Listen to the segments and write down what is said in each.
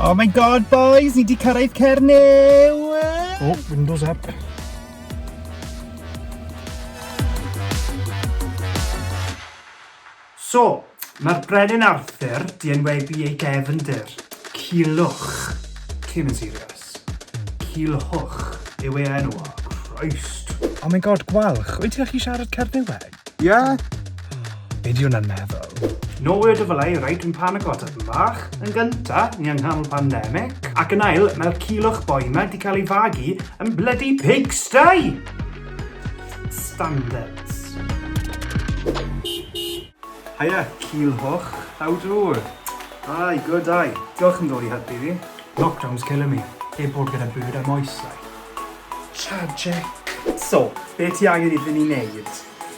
Oh my god boys, ni di cyrraedd Cernyw! Oh, windows up. So, mae'r Brenin Arthur 'di enwebu ei gefndir. Culhwch. Cyn yn serious. Culhwch yw ei enw o. Christ. Oh my god, Gwalch, wyt ti'n gallu siarad Cerniweg? Ie. Be di hwnna'n meddwl? No word of a lie, right, dwi'n panico tipyn bach. Yn gynta, ni yng nghanol pandemic. Ac yn ail, mae'r Culhwch boi 'ma 'di cael ei fagu yn bloody pigsty! Standards. Haia, Culhwch. How do? Hi, good day. Diolch am ddod i helpu fi. Lockdown's killing me. Heb bod gyda byd a moesau. Tragic. So, be ti angen iddyn ni wneud?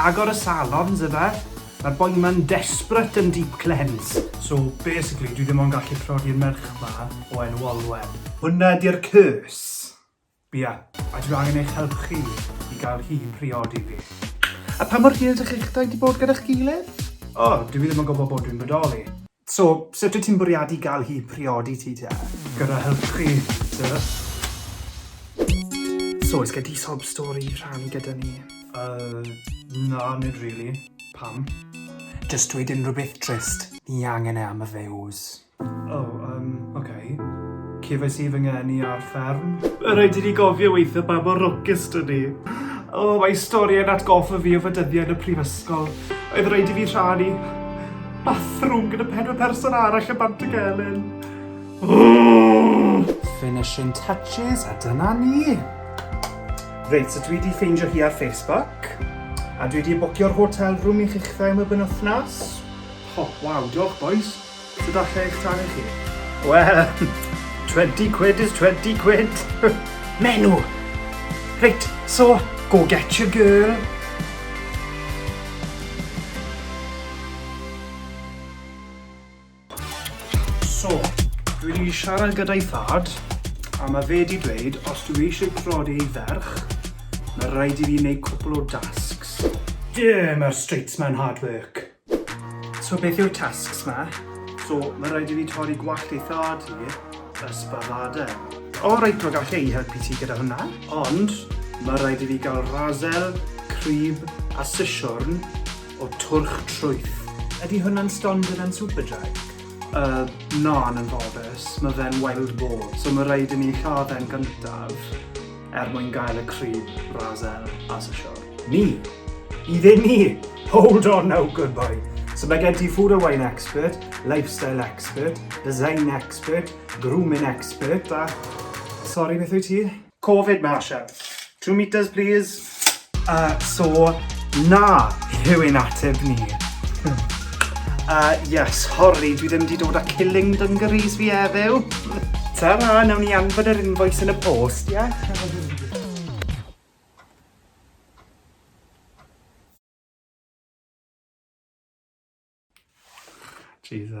Agor y salons ife? Mae'r boi ma'n desperate am deep cleanse. So basically dwi ddim ond gallu priodi'r merch ma o enw Olwen. Hwnna ydi'r curse! Ia, a dwi angen eich help chi i gael hi i priodi fi. A pa mor hir dych chi'ch dau 'di bod gyda'ch gilydd? O, dw i ddim yn gwybod bod dwi'n bodoli. So, sut wyt ti'n bwriadu gael hi priodi ti te? Gyda help chi, duh. So, oes gen ti sob stori i rhannu gyda ni? Uh, na, nid really. Pam? Just dweud unrhyw beth trist. Ni angen e am y views. Oh, um, okay. Cefais i fy ngeni ar fferm. Rhaid i ni gofio weithio pa mor lwcus dyn ni. Oh, mae stori yn atgoffa fi o fy dyddiau yn y prifysgol. Oedd rhaid i fi rhannu. Bathroom gyda pedwar person arall yn bant y gelyn. Finishing touches, a dyna ni. Reit, so dwi wedi ffeindio hi ar Facebook, a dwi wedi bwcio'r hotel room i chi'ch dda am y benwthnos. Oh, waw, diolch boys. So da lle eich tan i chi? Wel, 20 quid is 20 quid. Menu! Reit, so, go get your girl. So, dwi wedi siarad gyda'i thad, a mae fe wedi dweud, os dwi eisiau prodi ei ferch, mae rhaid i fi wneud cwpl o dasgs. Dim mae'r streets mewn hard work. So beth yw'r tasks ma? So, mae rhaid i fi torri gwallt ei thad hi, ysbadada. O, oh, reit, mae gallu ei helpu ti gyda hwnna. Ond, mae rhaid i fi gael razel, crib a sisiwrn o twrch trwyth. Ydy hwnna'n stond gyda'n Superdry? Uh, na, yn anfoddus, mae fe'n wild boar, so mae rhaid i ni lladd e'n gyntaf er mwyn gael y crib razel as y siwr. Ni? I ddim ni? Hold on now, good boy. So mae gen ti food and wine expert, lifestyle expert, design expert, grooming expert a... Sorry, beth wyt ti? Covid Marshall. Two metres please. Uh, so, na yw ein ateb ni. uh, yes, hori, dwi ddim wedi dod â killing dungarees fi heddiw. Ta-ra, nawn ni anfod yr invoice yn y post, ie? Yeah? Jesus.